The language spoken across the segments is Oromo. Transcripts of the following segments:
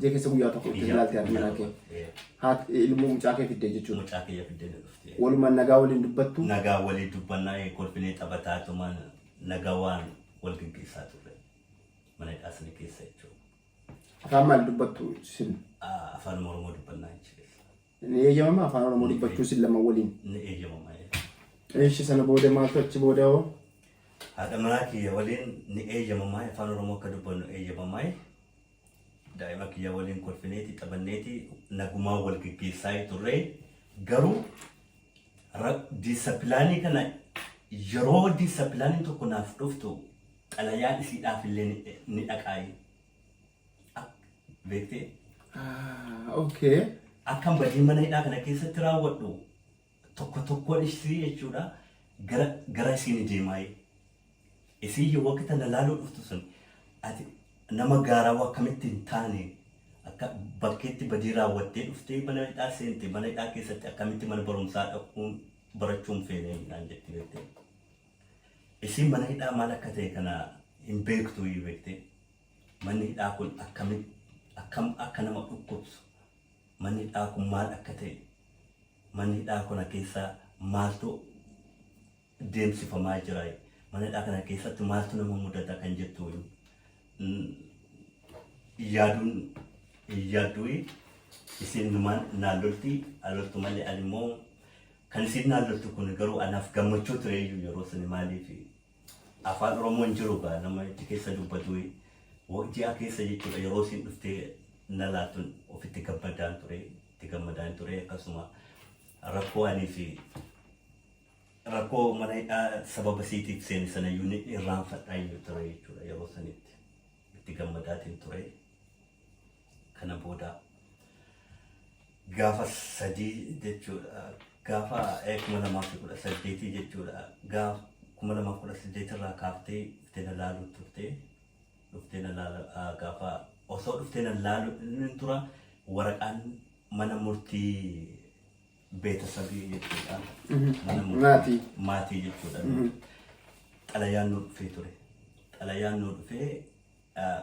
Jee keessa guyyaa tokko itti Ijaa laaltee ati guyyaa manaa kee. tokko, ee. Haat ilmoo mucaa kee fiddee jechuudha. Mucaa kiyya fiddee na dhufte. Walumaan nagaa waliin dubbattu. Nagaa walii dubbannaa ee, kolfinee taphataa tuma nagaa waan wal geggeessaa turre. Mana hidhaa sana keessa jechuudha. Afaan maal dubbattu sin? Ah, Afaan Oromoo dubbannaa jechuudha. Ni eeyyamama afaan oromoo Ni dubbachuu isin lama waliin. ni eeyyamama. Eeshi sana booda maaltu achi booda hoo? Haadha manaa kiyya waliin ni eeyyamama afaan oromoo akka dubbannu eeyyamama. Daa'ima kiyya waliin kolfineeti taphanneeti nagumaa wal geggeessaa turre garuu diisapilaanii kana yeroo diisapilaaniin tokko naaf dhuftu xalayaan isiidhaaf illee ni dhaqaayi. Beektee? Okay. Akkan badii mana hidhaa kana keessatti raawwadhu tokko tokkoon ishii jechuudha gara gara isiin deemaayee. Isiin yoo akka tana laaluu dhuftu sun ati nama gaaraa akkamitti hin taane akka bakkeetti badii raawwattee dhuftee mana hidhaa seente mana hidhaa keessatti akkamitti mana barumsaa dhaquun barachuun feene naan jetti beektee. Isiin mana hidhaa maal akka ta'e kana hin beektu beektee. Manni hidhaa kun akkamitti akkam akka nama dhukkubsu manni hidhaa kun maal akka ta'e manni hidhaa kana keessa maaltu deemsifamaa jira mana hidhaa kana keessatti maaltu nama mudata kan jettu hin yaaduun hin yaaddu'i isiin numaan naan lolti aloltu malee animmoo kan isiin naan loltu kun garuu anaaf gammachuu tureeyyuu yeroo suni maaliif Afaan oromoo hin jiru gaa nama itti keessa dubbatuu wo ji'a keessa jechuudha yeroo isin dhuftee na laaltun ofitti gammadaan ture itti gammadaan ture akkasuma rakkoo anii fi rakkoo mana hidhaa sababa siitiif seene sanayyuu ni irraanfadhaa hin ture jechuudha yeroo sanitti itti gammadaatiin ture Kana booda gaafa sadii jechuudha. Gaafa eh, kuma lamaa fi kudha saddeetii jechuudha. Gaaf kuma lamaa fi kudha saddeet irraa kaaftee dhuftee na laaluu turte. Dhuftee na laala ah, gaafa osoo dhuftee na laaluu hin tura waraqaan mana murtii beetasabii jechuudha. Mana murtii Maatii. maatii jechuudha. Xalayaan nu dhufee ture. Xalayaan nu dhufee ah,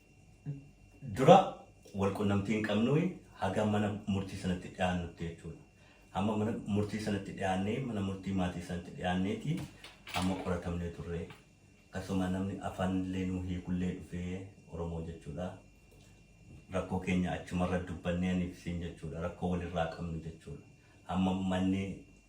dura wal qunnamtii hin qabnui haga mana murtii sanatti dhiyaannutti jechuudha. Amma mana murtii sanatti dhiyaannee mana murtii maatii sanatti dhiyaanneeti amma qoratamnee turre. Akkasuma namni afaanillee nuu hiikullee dhufee Oromoo jechuudha. Rakkoo keenya achumarra dubbannee aniif siin jechuudha. Rakkoo walirraa qabnu jechuudha. Amma manni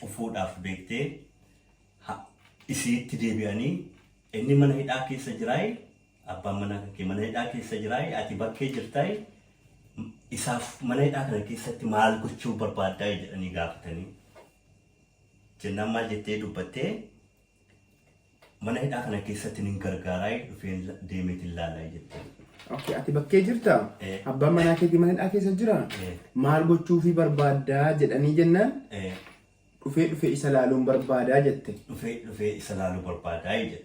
cufuudhaaf beektee ha, isi'itti deebi'anii inni mana hidhaa keessa jiraayi abbaan manaa kan kee mana hidhaa keessa jiraayi ati bakkee jirtaayi isaaf mana hidhaa kana keessatti maal gochuu barbaaddaa jedhanii gaafatanii jennaan maal jettee dubbattee Mana hidhaa kana keessatti nin gargaaraay dhufeen deemeetin laalaay jetteen. Okay, ati bakkee jirta? Ee. Abbaan manaa keetii mana hidhaa keessa jira? Ee. Maal gochuufii barbaaddaa jedhanii jennaan Ee, dhufee dhufee isa laaluun barbaadaa jette. Dhufee dhufee isa laaluu barbaadaay jette.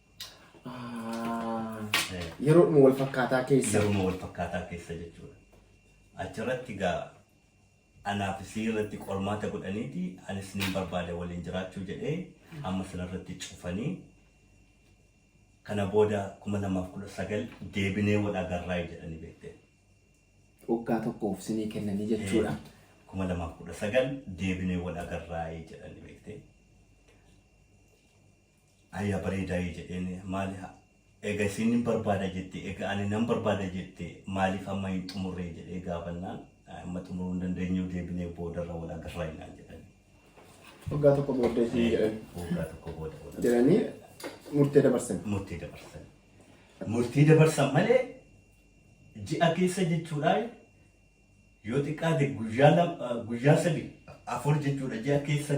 Yeroodhuma wal fakkaataa keessa. Yeroodhuma wal fakkaataa keessa jechuudha. Achirratti gaa anaaf isii irratti qormaata godhaniiti anis nin barbaada waliin jiraachuu jedhee amma sanarratti cufanii kana booda 2019 deebinee wal agarraa jedhanii beekteen. Waggaa tokkoof sinii kennanii jechuudha. 2019 deebinee wal agarraa jedhanii beekteen. Aya bareeda ye jedheen maali ha ega isiin nin barbaada jette ega ani nan barbaada jette maaliif amma hin xumurree jedhee gaafannaan amma xumuruu hin dandeenyuu deebinee boodarra wal agarra inaan jedhani. Waggaa tokko booddee isiin jedhan. Waggaa tokko booda wal agarra. Jedhanii murtee dabarsan. Murtee dabarsan. Murtee dabarsan malee ji'a keessa jechuudhaan Yoo xiqqaate guyyaa lam guyyaa sadi afur jechuudha ji'a keessa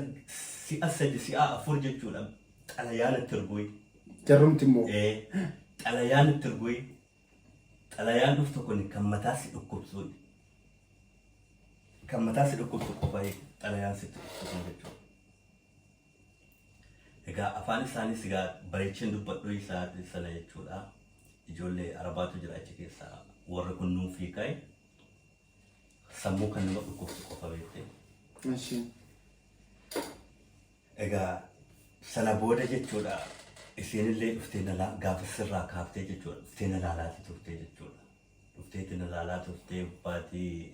si'a sadi si'a afur jechuudha xalayaa natti ergui. Jarrumti immoo. Ee xalayaa natti ergui xalayaan dhuftu kun kan mataa si dhukkubsuun kan mataa si dhukkubsu qofa xalayaan sitti dhukkubsuun jechuudha. Egaa afaan isaanii sigaa bareecheen dubbadhu isaa sana jechuudha. Ijoollee arabaatu jira achi keessa warri kun nuuf hiikae sammuu kan nama dhukkubsu qofa beekte. Mashii. Egaa sana booda jechuudha isiinillee dhuftee na laa- gaafa sirraa kaaftee jechuudha dhuftee na laalaati turtee jechuudha. Dhufteeti na laalaa turtee baatii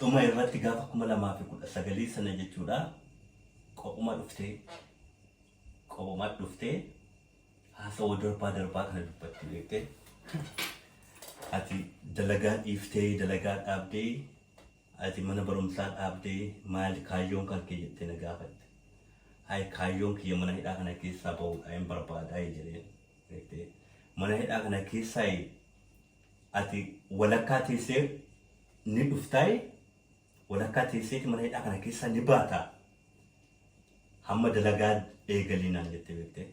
Dhuma irratti gaafa 2019 sana jechuudha qophuma dhuftee qophuma dhuftee haasawa darbaa darbaa kana dubbatti beekte ati dalagaa dhiiftee dalagaa dhaabdee ati mana barumsaa dhaabdee maali kaayyoon kan kee jettee na gaafatte ay kaayyoon kiyya mana hidhaa kana keessaa bahuudha hin barbaadaa jedheen beekte mana hidhaa kana keessaa Ati walakkaa teessee ni dhuftaay walakkaa teesseeti mana hidhaa kana keessaa ni baataa hamma dalagaa eegalii naan jette beektee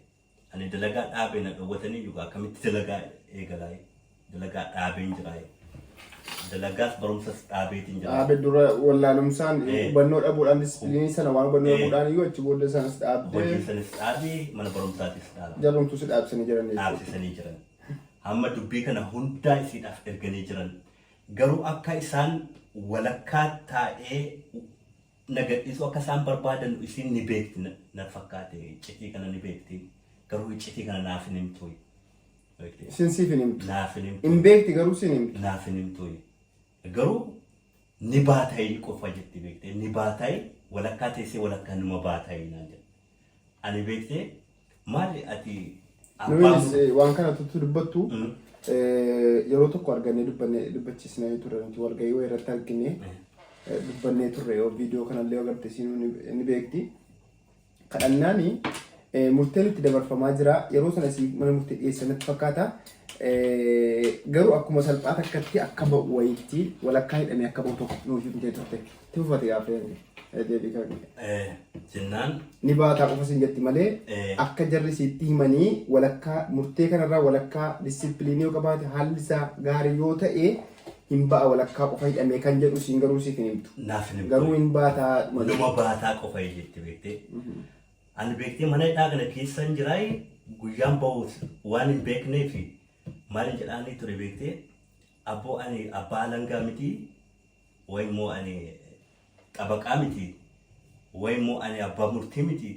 ani dalagaa dhaabee na dhowwatanii iyyuu akkamitti dalagaa eegalaay dalagaa dhaabeen jiraay dalagaas barumsas dhaabeetiin jiraay. Dhaabe dura wallaalumsaan Eh. hubannoo dhabuudhaan disipiliinii sana waan hubannoo Eh. dhabuudhaan iyyuu achi booddee sanas dhaabdee Hojii sanis dhaabee mana barumsaatis dhaabee jarrumtuu si dhaabsanii jiran jechuudha. dhaabsisanii jiran. Amma dubbii kana hundaa isiidhaaf erganii jiran. Garuu akka isaan walakkaa taa'ee na gadhiisuu akka isaan barbaadanu isiin ni beekti na fakkaate. Iccitii kana ni beekti. Garuu iccitii kana naaf hin himtuuyi. Beekte? Isin siif hin himtu. Naaf hin himtu. Hin beekti garuu siin himtu. Naaf hin himtuuyi. Garuu ni baatayi ni quffa jetti beektee ni baatayi walakkaa teessee walakkaa numa baatayi naan jedhe. Ani beektee maali ati abbaa Nuyinis murtii. eh, waan kana tuttu dubbattu Mm. eh, yeroo tokko argannee dubbanne dubbachiisnee turre nuti walgahii wayii irratti argine Eh. eh, dubbannee turre yoo viidiyoo kanallee yoo agarte isiin ni beekti. kadhannaan murteen itti dabarfamaa jira. Yeroo sana siif mana murtii dhiyeessan natti fakkaata. Garuu akkuma salphaa takkatti akka ba'u wayiitti walakkaa hidhamee akka ba'u tokko nuuf himtee turte. Itti fufate gaaffii hanga deebii kan Jennaan ni baataa qofa sin jetti malee akka jarri sitti himanii walakkaa murtee kanarraa walakkaa disipiliinii yoo qabaate haalli isaa gaarii yoo ta'e hin ba'a walakkaa qofa hidhamee kan jedhu siin garuu siif hin himtu. Naaf hin himtu. Garuu hin baataa dhuma Numa jedhu. baataa qofa hin jetti beektee. Ani beektee mana hidhaa kana keessa hin jiraay guyyaan ba'uus waan hin beeknee fi maal hin jedhaanii ture beektee abboo ani abbaa alangaa miti wayi immoo ani xabaqaa miti wayi immoo ani abbaa murtii miti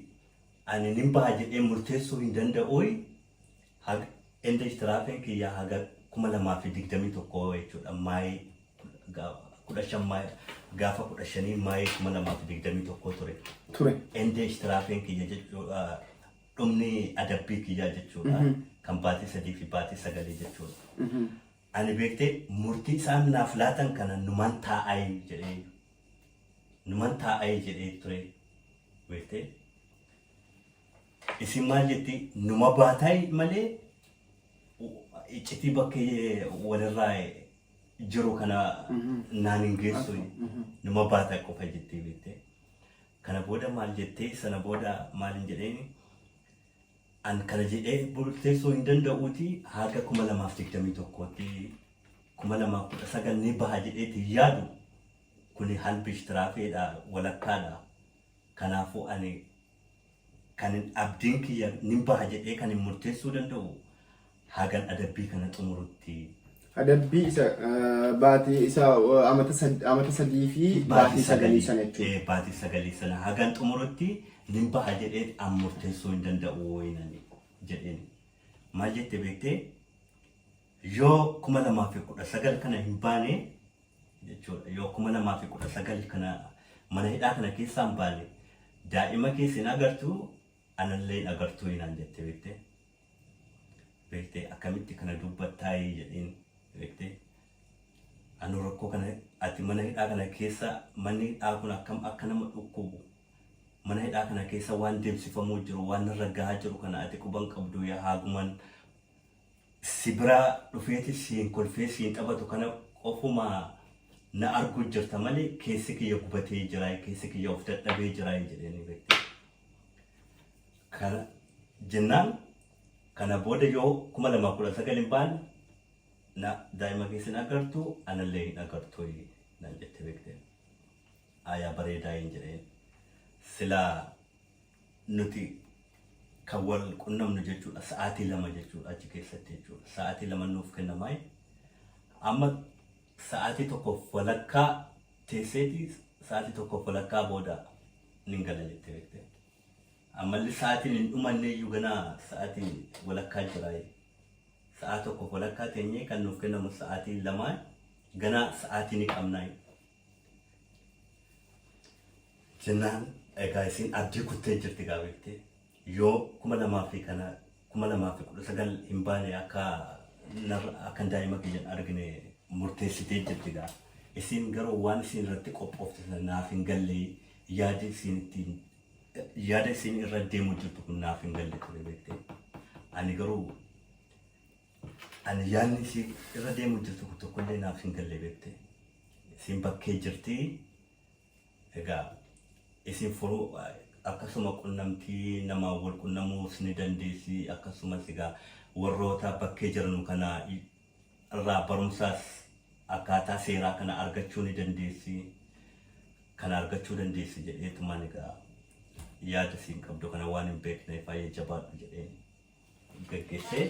ani nin baha jedhee murteessuu hin danda'uuyi Hag enda ishtirafen kiyya haga 2021 jechuudha May 15 May gaafa 15 May 2021 ture. ture. Enda ishtirafen kiyya jechuudha dhumni adabbii kiyyaa jechuudha kan baatii sadii fi baatii sagalii jechuudha. Ani beektee murtii isaan naaf laatan kana numan taa'ayi jedhee numan taa'ayi jedhee ture beektee. Isin maal jetti numa baataay malee iccitii bakka walirraa jiru kana naan hin geessu numa baataa qofa jettee beektee. Kana booda maal jettee sana booda maal hin jedheeni an kana jedhee murteessuu hin danda'uuti haga kuma lamaaf digdamii tokkootti kuma lamaaf kudha sagal ni baha jedheeti hin yaadu kuni halbish tiraafeedha walakkaadha kanaafuu ani Kanin abdiin kiyya nin baha jedhee kanin murteessuu danda'u hagan adabbii kana xumurutti. Adabbii isa baatii isa amata sadii fi baatii sagalii sana jechuudha. Baatii sagalii sana hagan xumurutti nin baha jedhee an murteessuu hin danda'u wayinani jedheen. Maal jette beektee? Yoo 2019 kana hin baane jechuudha. Yoo 2019 kana mana hidhaa kana keessaa hin baane daa'ima keessa hin agartu anallee hin agartu hinaan jette beektee. Beektee akkamitti kana dubbattaa jedheen beektee. Anu rakkoo kana ati mana hidhaa kana keessa manni hidhaa kun akkam akka nama dhukkubu mana hidhaa kana keessa waan deemsifamuu jiru waan irra gahaa jiru kana ati quban qabdu yaa haaguman si biraa dhufeeti siin kolfee siin taphatu kana qofuma na arguu jirta malee keessi kiyya gubatee jiraay keessi kiyya of dadhabee jiraay jedheenii beekte kana jennaan kana booda yoo kuma lamaa kudha sagal hin baanne na daa'ima keessa hin agartu anallee hin agartu naan jette beekte aayaa bareedaa hin jedheen silaa nuti kan wal qunnamnu jechuudha sa'aatii lama jechuudha achi keessatti jechuudha sa'aatii lama nuuf kennamaayi amma sa'aatii tokkoof walakkaa teesseeti sa'aatii tokkoof walakkaa booda nin gala jettee beekte ammallee sa'aatiin hin dhumanne iyyuu ganaa sa'aatii walakkaa jiraayi sa'aa tokkoof walakkaa teenyee kan nuuf kennamu sa'aatii lamaa ganaa sa'aatii ni qabnaayi jennaan egaa isiin abdii kuttee jirti gaa beekte yoo kuma lamaa fi kana kuma lamaa fi kudha sagal hin baane akka narra akka daa'ima kiyyan argine murteessitee jirti gaa isiin garuu waan isiin irratti qophoofte sana naaf hin galle yaadi isiin ittiin yaada isiin irra deemu jirtu kun naaf hin galle ture beekte ani garuu Ani yaadni isii irra deemuu jirtu kun tokkollee naaf hin galle beekte. Isiin bakkee jirti. Egaa isin furuu akkasuma qunnamtii namaa wal qunnamuus ni dandeessi. Akkasumas egaa warroota bakkee jiranu kana irraa barumsaas akkaataa seeraa kana argachuu ni dandeessi. Kana argachuu dandeessi jedheetumaan egaa yaada isiin qabdu kana waan hin beekneef baay'ee jabaadhu jedheen. geggessee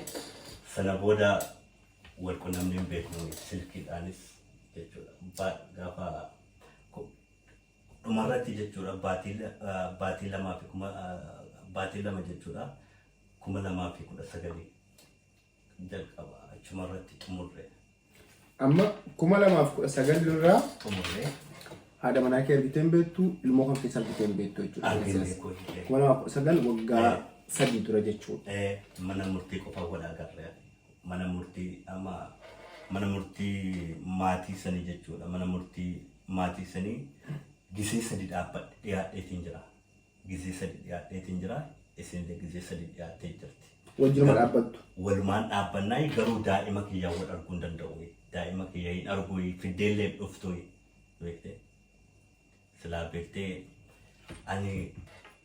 sana booda wal qunnamnee hin beeknu silkiidhaanis jechuudha. Ba- Gaafa ku- dhumarratti jechuudha baatii la- ah, baatii lamaa fi kuma ah, baatii lama jechuudha kuma lamaa fi kudha sagalii jalqaba achumarratti xumurre. Amma 2019 irraa xumurree haadha manaa kee argitee hin beektu ilmoo kan keessa argitee hin beektu jechuudha. Arginu Siyaasa. beekuu hidhee. 2019 waggaa Eh. sadii dura jechuudha. Eh, mana murtii qofa wal agarre mana murtii ama mana murtii maatii sanii jechuudha mana murtii maatii sanii gisee sadi dhaabbadhe dhiyaadheetiin jira gizee sadi dhiyaadheetiin jira, isiinillee gizee sadi dhiyaattee jirti. Wajjinuma Garuu dhaabbattu. walumaan dhaabbannaayi garuu daa'ima kiyyaa wal arguu hin danda'uyi. Daa'ima kiyya hin arguyi fiddeellee hin dhuftuyi. Beektee? Silaa beektee ani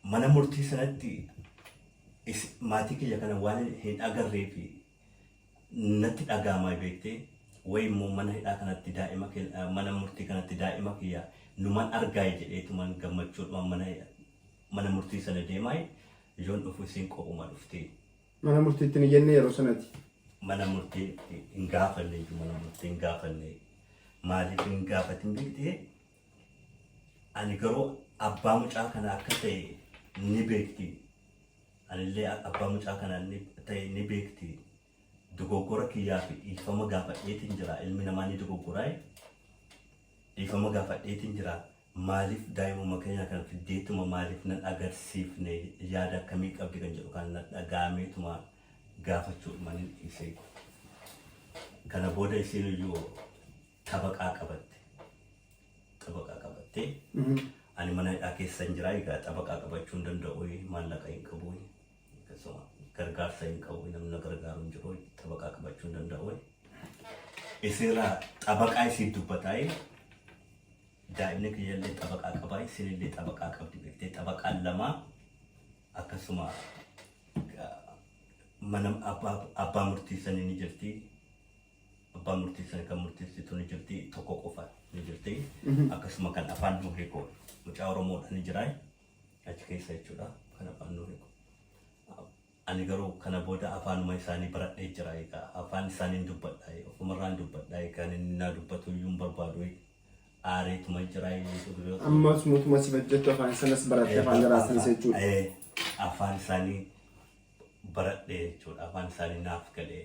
mana murtii sanatti is- maatii kiyya kana waan hin agarree fi natti dhaga'ama beektee wayi immoo mana hidhaa kanatti daa'ima ke- eh, mana murtii kanatti daa'ima kiyya numan argaayi jedheetuman gammachuudhuman mana mana murtii sana deemaayi yoon dhufu isiin qophuma dhufti Mana murtiitti hin iyyannee yeroo sanati. mana murtii hin gaafanne iyyuu mana murtii hin gaafanne maaliif hin gaafatin beektee Ani garuu abbaa mucaa kana akka ta'e ni beekti. Anillee abbaa mucaa kana ta'e ni beekti. Dogoggora kiyyaa fi dhiifama gaafadheetiin jira. Ilmi namaa ni dogoggoraa. Dhiifama gaafadheetiin jira. Maaliif daa'imuma keenya kana fiddeetuma maaliif nan agarsiifne yaada akkamii qabdi kan jedhu kana na dhaga'ameetuma gaafachuudhuma nan dhiise. Kana booda isiin iyyuu xabaqaa qabatte. Xabaqaa qabattee ani mana hidhaa keessa hin jiraa egaa xabaqaa qabachuu hin danda'u maallaqa hin qabu akkasuma gargaarsa hin qabu namni na gargaaru hin jiru xabaqaa qabachuu hin danda'u. Isinirraa xabaqaa isiif dubbataa'ee daa'imni kiyyallee xabaqaa qabaa isinillee xabaqaa qabdi beektee xabaqaan lamaa akkasuma mana abbaa murtii sanii ni jirti. abbaa murtii sana kan murteessitu ni jirti tokko qofa ni jirti akkasuma kan afaan nu hiiku mucaa oromoodha ni jira achi keessa jechuudha kan afaan nu hiiku ani garuu kana booda afaanuma isaanii baradhee jira egaa afaan isaaniin dubbadha ofumarraan dubbadha egaa inni naa dubbatu iyyuu hin barbaadu aareetuma jira dubiroota Ammas mootummaa si bajjattu afaan sanas baratte afaan jaraatinis jechuudha. Eh, afaan isaanii baradhe jechuudha afaan isaanii naaf galee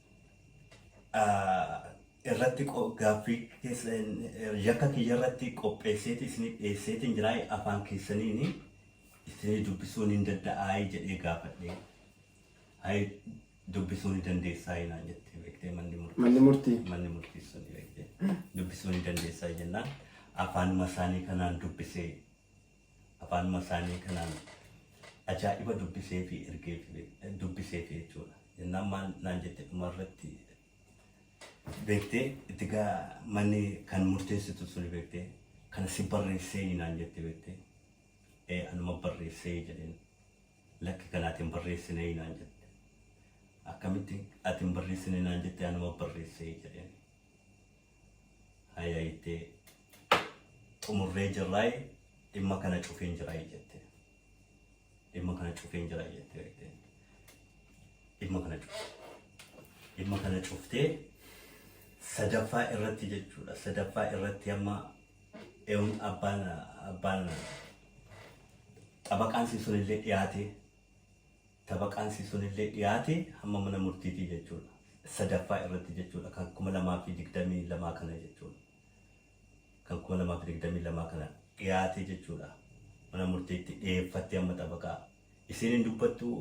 irratti gaaffii yakka kiyya irratti qopheesseeti isiniif dhiyeesseetiin jiraa afaan keessaniin isinii dubbisuun hin danda'aa jedhee gaafadhee hayi dubbisuu ni dandeessaa naan jettee beektee manni murtii Manni murtii. manni murtii sun beektee dubbisuu ni dandeessaa jennaan afaanuma isaanii kanaan dubbisee afaanuma isaanii kanaan ajaa'iba dubbiseefi ergeef dubbiseefi jechuudha. Jennaan maal naan jette dhuma irratti beektee itti gaa manni kan murteessitu suni beektee kana si barreessee naan jette beektee ee anuma barreessee jedheen lakki kana ati hin barreessinee naan jette akkamitti ati hin barreessine naan jette anuma barreessee jedheen Haya itti xumurree jirraay dhimma kana cufeen jiraay jette. Dhimma kana cufeen jiraay jette beekte. Dhimma kana cufte. Dhimma kana cuftee sadaffaa irratti jechuudha. Sadaffaa irratti amma eewun abbaan abbaan xabaqaan sun illee dhiyaatee Xabaqaansi sunillee dhiyaate hamma mana murtiitii jechuudha. Sadaffaa irratti jechuudha kan 2022 kana jechuudha. Kan 2022 kana dhiyaate jechuudha. Mana murtiitti dhiyeeffattee amma xabaqaa. Isiin hin dubbattuu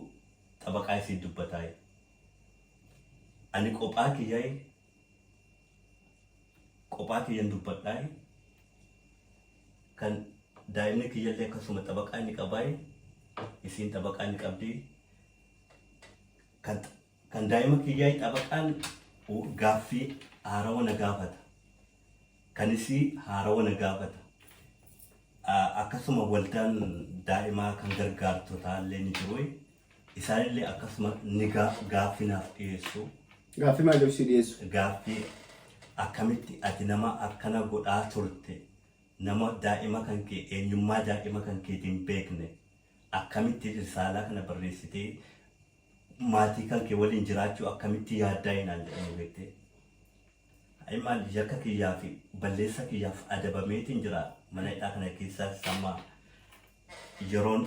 xabaqaa isii dubbataayi. Ani qophaa kiyyaayi Qophaa kiyyan dubbadhaayi. Kan daa'imni kiyyallee akkasuma xabaqaa inni qabaayi. Isiin xabaqaa inni qabdi. Kan kan daa'ima kiyyaayi xabaqaan gaaffii haarawa na gaafata. Kan isii haarawa na gaafata. Akkasuma waldaan daa'imaa kan gargaartotaallee ni jiru. Isaanillee akkasuma ni gaa- gaaffii naaf dhiyeessu. Gaaffii maal jedhu si dhiyeessu? Gaaffii akkamitti ati nama akkana godhaa turte nama daa'ima kan kee eenyummaa daa'ima kan keetii hin beekne akkamitti risaalaa kana barreessitee maatii kan kee waliin jiraachuu akkamitti yaaddaa hinaan jedhanii beektee. Ayi maal yakka kiyyaa fi balleessa kiyyaaf adabameetiin jira mana hidhaa kana keessaas amma yeroon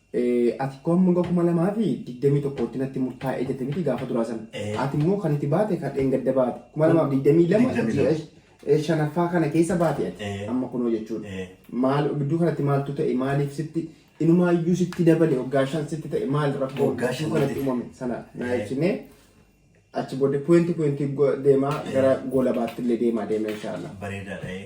Ee ati ko hanga 2021tti natti murtaa'e jette miti gaafa duraa san Ee. ati immoo kan itti baate kan dheengadda baate 2022 22. ji'a eh, shanaffaa kana keessa baate ati Ee. amma kunoo jechuudha Ee. maal gidduu kanatti maaltu ta'e maaliif sitti inumaayyuu sitti dabale waggaa shan sitti ta'e maal rakkoo Waggaa gidduu shan kanatti ta'e. uumame sana naa Ee. ibsinee achi booddee puwenti puwenti deemaa Ee. gara goolabaatti illee deemaa deema inshaallah. bareedaadha. ee.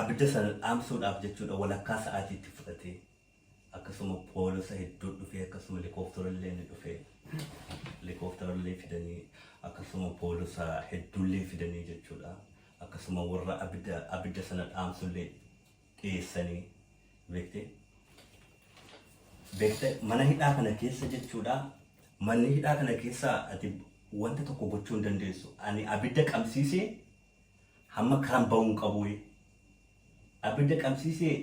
Abidda sana dhaamsuudhaaf jechuudha walakkaa sa'aatii itti fudhate. Akkasuma poolisa hedduun dhufee akkasuma helikooftarallee ni dhufe. Helikooftarallee fidanii akkasuma poolisa hedduullee fidanii jechuudha. Akkasuma warra abidda abidda sana dhaamsullee dhiyeessanii beekte. Beekte mana hidhaa kana keessa jechuudha. Manni hidhaa kana keessa ati wanta tokko gochuu hin dandeessu. Ani abidda qabsiisee Hamma karaan ba'uu hin qabuuyi. Abidda qabsiisee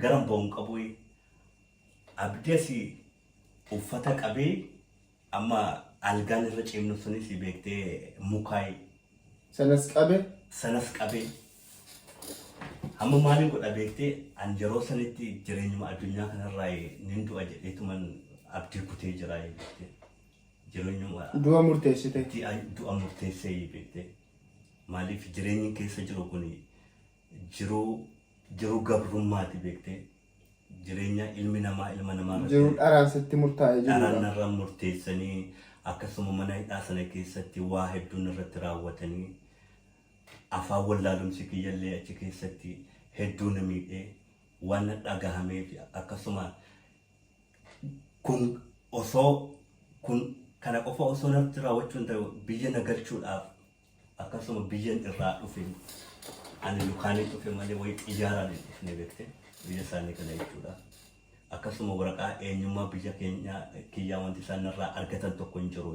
garan ba'uu hin qabuuyi. Abdas uffata qabee amma algaan irra ciimnu sunis beektee mukaayi. Sanas qabe. Sanas qabe. Hamma maalin godha beektee an yeroo sanitti jireenyuma addunyaa kanarraa nin du'a jedheetuman abdii kutee jira beektee. Jireenyuma. Du'a murteessite. Du'a murteessee beektee. Maaliif jireenyi keessa jiru kun jiruu. jiruu gabrummaati beektee jireenya ilmi namaa ilma namaa irratti. Jiruu dharaan sitti murtaa'e jiruudha. Dharaan narra murteessanii akkasuma mana hidhaa sana keessatti waa hedduun irratti raawwatanii afaan wallaalumsi kiyyallee achi keessatti hedduu na miidhee waan na dhagahameef akkasuma Kun osoo kun kana qofa osoo narratti raawwachuu hin ta'u biyya na galchuudhaaf akkasuma biyyan irraa dhufe ani lukaanin dhufe malee wayii xiyyaaraan hin dhufne beekte biyya isaanii kana jechuudha. Akkasuma waraqaa eenyummaa biyya keenyaa kiyyaa wanti isaan narraa argatan tokko hin jiru.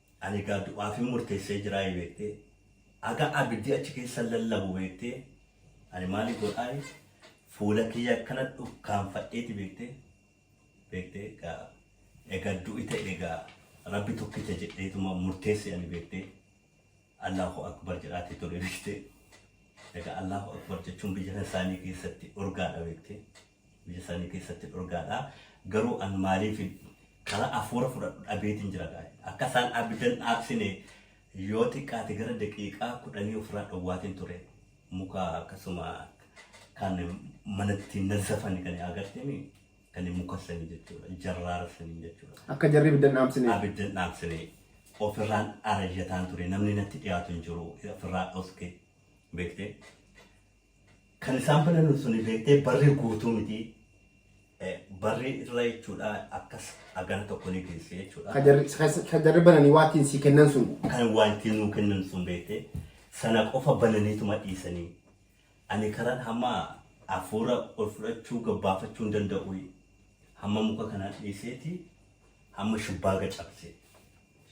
Ani egaa du'aafin murteessee jiraayi beektee, haga abiddi achi keessa lallabu beektee, ani maali godhaayi, fuula kiyya akkana dhukkaanfadheeti beektee, beektee, egaa, egaa du'i ta'e egaa Rabbi tokkicha jedheetuma murteesse ani beektee, Allaahu Akbar jedhaati ture beektee, egaa Allaahu Akbar jechuun biyya kan isaanii keessatti dhorgaadha beektee. Biyya isaanii keessatti dhorgaadha. Garuu an maaliifin karaa afuura fudhadhu dhabeetiin jira gaa'e. Akka isaan abidan dhaabsine yoo xiqqaate gara daqiiqaa kudhanii ofirraa dhowwaatiin ture. Muka akkasuma kan manatti nazzafani kan agartemi kan muka sanii jechuudha. Jarraara sanii jechuudha. Akka jarri ibiddan dhaamsine. Abiddan dhaamsine ofirraan arayyataan ture. Namni natti dhiyaatu hin jiru. Ofirraa dhoske beekte. Kan isaan filannu suni beektee barri guutuu miti. Eh, Barri irra jechuudha akkas agana tokko ni geesse jechuudha. Ka jarri- ka- ka jarri bananii waa ittiin sii kennan sun. Kan waa ittiin nuu kennan sun beektee sana qofa bananiituma dhiisanii. Ani karan hamma hafuura ol fudhachuu gabbaafachuu hin danda'u. Hamma muka kanaa dhiiseeti hamma shubbaaga cabse.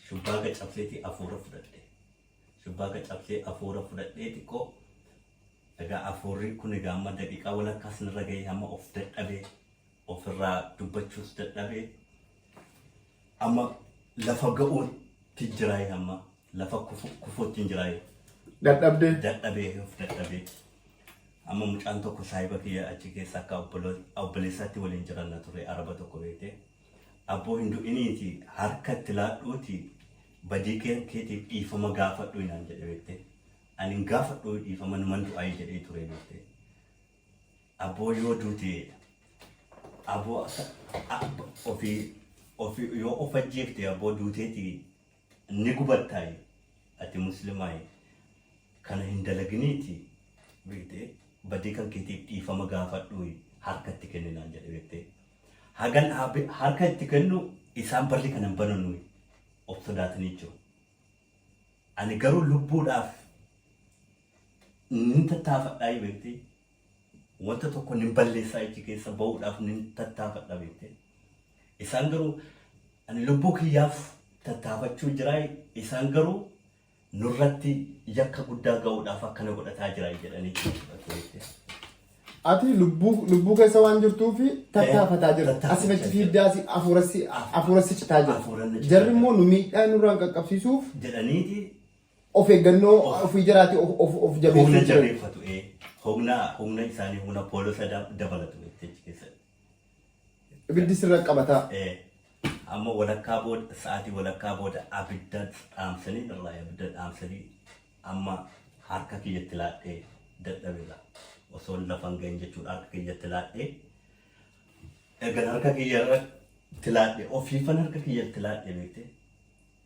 Shubbaaga cabseeti hafuura fudhadhe. Shubbaa akka cabsee afuura fudhadhee xiqqoo egaa afuurri kun egaa amma daqiiqaa walakkaas narra gahee amma of dadhabee ofirraa dubbachuus dadhabee amma lafa ga'uutti jiraayee amma lafa kufu- kufuutti hin jiraayee Dadhabde. dadhabee of dadhabee amma mucaan tokko saahiba kiyya achi keessa akka obbolo- obboleessaatti waliin jiranna ture araba tokko beektee Abboo hin du'iniiti harka itti laadhuuti badii keen keetiif dhiifama gaafadhuu naan jedhe beekte. Ani hin gaafadhuu dhiifama numan du'aayi jedhee ture beekte. Abboo yoo duute aboo akka ofii ofii yoo of ajjeefte abboo duuteeti ni gubattaay ati muslimaay kana hin dalaginiiti beekte badii kan keetiif dhiifama gaafadhuuyi harka itti kenni naan jedhe beekte hagan haabe- harka itti kennu isaan barri kana hin bananuuyi of sodaatanii jiru ani garuu lubbuudhaaf nin tattaafadhaayi beekte Wanta tokko nin balleessaa ijji keessan ba'uudhaaf nin tattaafadha beekte. Isaan garuu ani lubbuu kiyyaaf tattaafachuu jira isaan garuu nurratti yakka guddaa ga'uudhaaf akkana godhataa jira jedhanii itti dubbatu beekte. Ati lubbuu lubbuu keessa waan jirtuuf tattaafataa jirta. Asii tattaafachaa fachi jira. fiiddaa asii hafuura si hafuura si citaa jira. Hafuura na citaa Jarri jira. immoo nu miidhaa nurraan qaqqabsiisuuf jedhaniiti of eeggannoo Of- ofii jaraati of of of jabeessuu humna jiran. jabeeffatu ee humna humna isaanii humna poolisa da- dabalatu jechi keessatti. Ibiddi sirra qabataa. Ee, amma walakkaa booda sa'aatii walakkaa booda abidda dhaamsanii irraa abidda dhaamsanii amma harka kiyyatti laadhee dadhabirra osoo hin lafan ga'in jechuudha harka kiyyatti laadhee ergan harka kiyyarratti laadhee ofiifan harka kiyyatti laadhee beektee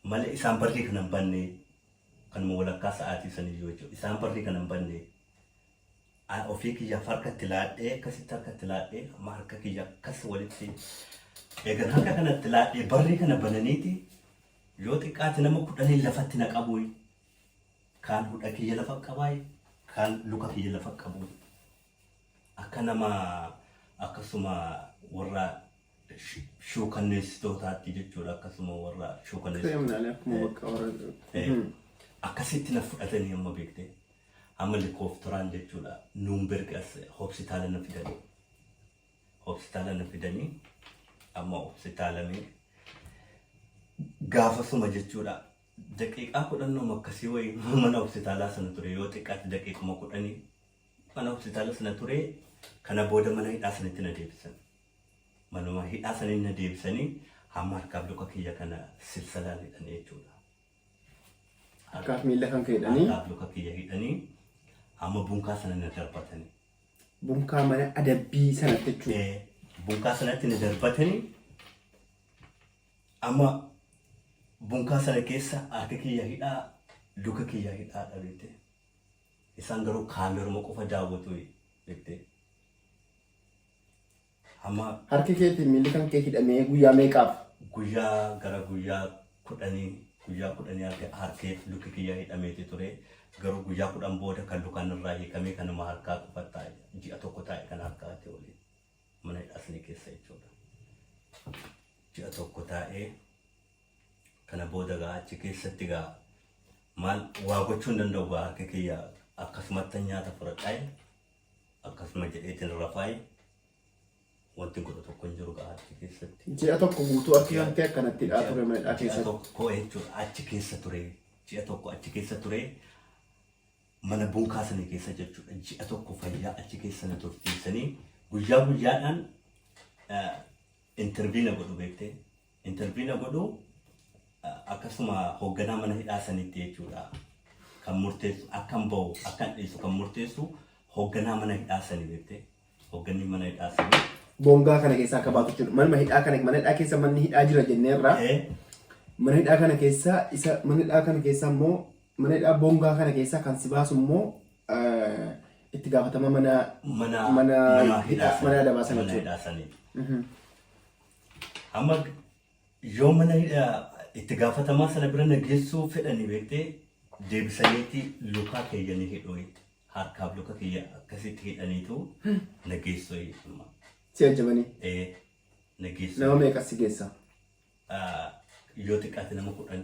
Malee isaan barrii kana hin bannee kanuma walakkaa sa'aatii saniyyuu jechuudha isaan barrii kana hin bannee an ofii kiyyaaf harka itti laadhee akkasitti harka itti laadhee amma harka kiyya akkas walitti eegan harka kana itti laadhee barrii kana bananiiti yoo xiqqaate nama kudhaniin lafatti na qabuuyi kaan hudha kiyya lafa qabaayi kaan luka kiyya lafa qabuuyi akka nama akkasuma warra shuukanneessitootaatti jechuudha akkasuma warra shuukanneessitootaa akkasitti na fudhatanii amma beektee amma likooftoraan jechuudha nuumberg as hospitaala na fidanii hospitaala na fidanii amma hospitaalamee gaafasuma jechuudha daqiiqaa kudhannoom akkasii wayii mana hospitaalaa sana ture yoo xiqqaatti daqiiquma kudhanii mana hospitaala sana ture kana booda mana hidhaa sanatti na deebisan Manuma hidhaa sanii na deebisanii hamma harkaaf luka kiyya kana silsalaan hidhanii jechuudha. Harkaaf miila kan kee hidhanii. Harkaaf luka kiyya hidhanii hamma bunkaa sana na darbatanii. Bunkaa mana adabbii sanatti jechuudha. Eh, Bunkaa sanatti na darbatanii amma bunkaa sana keessa harki kiyya hidhaa luka kiyya hidhaa dhabeete. Isaan garuu kaameruma qofa daawwatu jettee. Hamma. Harki kee fi miilli kan kee hidhamee guyyaa meeqaaf? Guyyaa gara guyyaa kudhanii guyyaa kudhanii harki harkee fi lukki kiyya hidhameeti ture. Garuu guyyaa kudhan booda kan lukaan irraa hiikamee kan nama harkaa qofa taa'e ji'a tokko taa'e kan harkaa ta'e waliin mana hidhaa sanii keessa jechuudha. Ji'a tokko taa'ee kana booda gaa achi keessatti gaa maal waa gochuu hin danda'u gaa harki kiyya akkasumatti nyaata fudhadhaa Akkasuma jedheetiin rafaayi. Wanti godhu tokko hin jiru gahaa achi keessatti. Ji'a tokko guutuu achi Ji'a- hantee akkanatti dhaa ji'a- ture mana dhaa ji'a keessatti. tokko jechuudha achi keessa ture ji'a tokko achi keessa ture mana bunkaa sana keessa jechuudha ji'a tokko fayyaa achi keessa na tursiisanii guyyaa guyyaadhaan intervii na godhu beektee Interview na godhu akkasuma hoogganaa mana hidhaa sanitti jechuudha. Kan murteessu akkan bahu akkan dhiisu kan murteessu hoogganaa mana hidhaa sanii jette. Hoogganni mana hidhaa sanii. Bongaa kana keessaa akka baatu jechuudha. Manuma hidhaa kana mana hidhaa keessa manni hidhaa jira jenneerra. Eh, Mana hidhaa kana keessaa isa mana hidhaa kana keessaa immoo mana hidhaa bongaa kana keessaa kan si baasu immoo eh, itti gaafatama mana mana mana hidhaa mana adabaa sana mana jechuudha. hidhaa sanii. Amma yoo mana hidhaa itti gaafatamaa sana bira na geessuu fedhanii beektee deebisaniiti lukaa keeyyanii hidhuu harkaaf luka kiyya akkasitti hidhaniitu na geessuu amma. Si ajjabanii Ee na geessuu. nama meeqa si geessa? Ah, yoo xiqqaate nama kudhan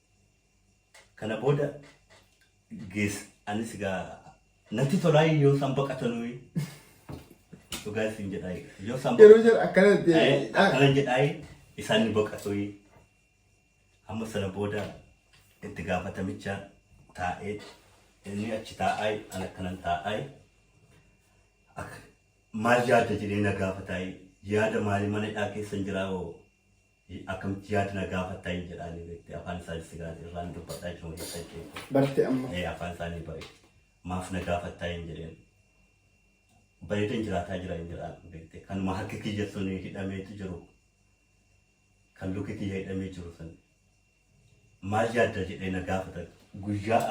Kana booda gees anis gaa natti tolaa yoo isaan baqatanuu dhugaa isin jedhaa yoo isaan Yeroo baqatan- jara akkana Eh, ta'e. akkana jedhaa isaan ni baqatu amma sana booda itti gaafatamicha taa'ee inni achi taa'aa an akkanan taa'aa Akka- maal yaadda jedhee na gaafataa yaada maalii mana hidhaa keessan jiraa hoo Hi akkamti yaad na gaafatta hin jedhaani beekte afaan isaani sigaani irraan dubbadha jechuun keessa jechuudha. Barte amma. Ee afaan isaanii bare maaf na gaafattaa hin jedheen bareedan jiraataa jira hin jedhaan beekte kanuma harki kiyya sun hidhameetu jiru kan luki kiyya hidhamee jiru sun maal yaadda jedhee na gaafatan guyyaa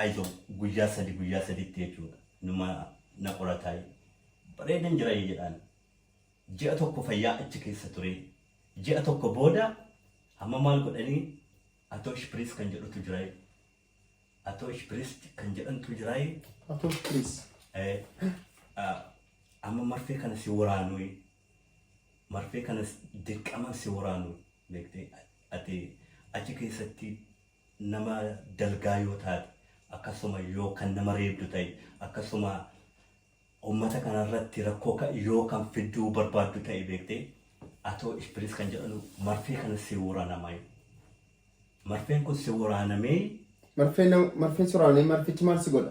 ayizo guyyaa sadi guyyaa saditti jechuudha numa na qorataa bareedan jira hin jedhaan Ji'a tokko fayyaa achi keessa ture. Ji'a tokko booda amma maal godhanii Atoosh Piriis kan jedhutu jiraayee. Atoosh Piriis kan jedhantu jiraayee. Atoosh Piriis. Amma marfee kana si waraanuu marfee kana dirqaman si waraanuu beektee ati achi keessatti nama dalgaa yoo taate akkasuma yoo kan nama reebdu ta'e akkasuma Ummata kana irratti rakkoo ka yoo kan fidduu barbaaddu ta'e beektee atoo ishpiriis kan jedhanu marfee kana si woranamai marfeen kun si woraanamee Marfee nam marfee si woraanee marfichi maal si godha?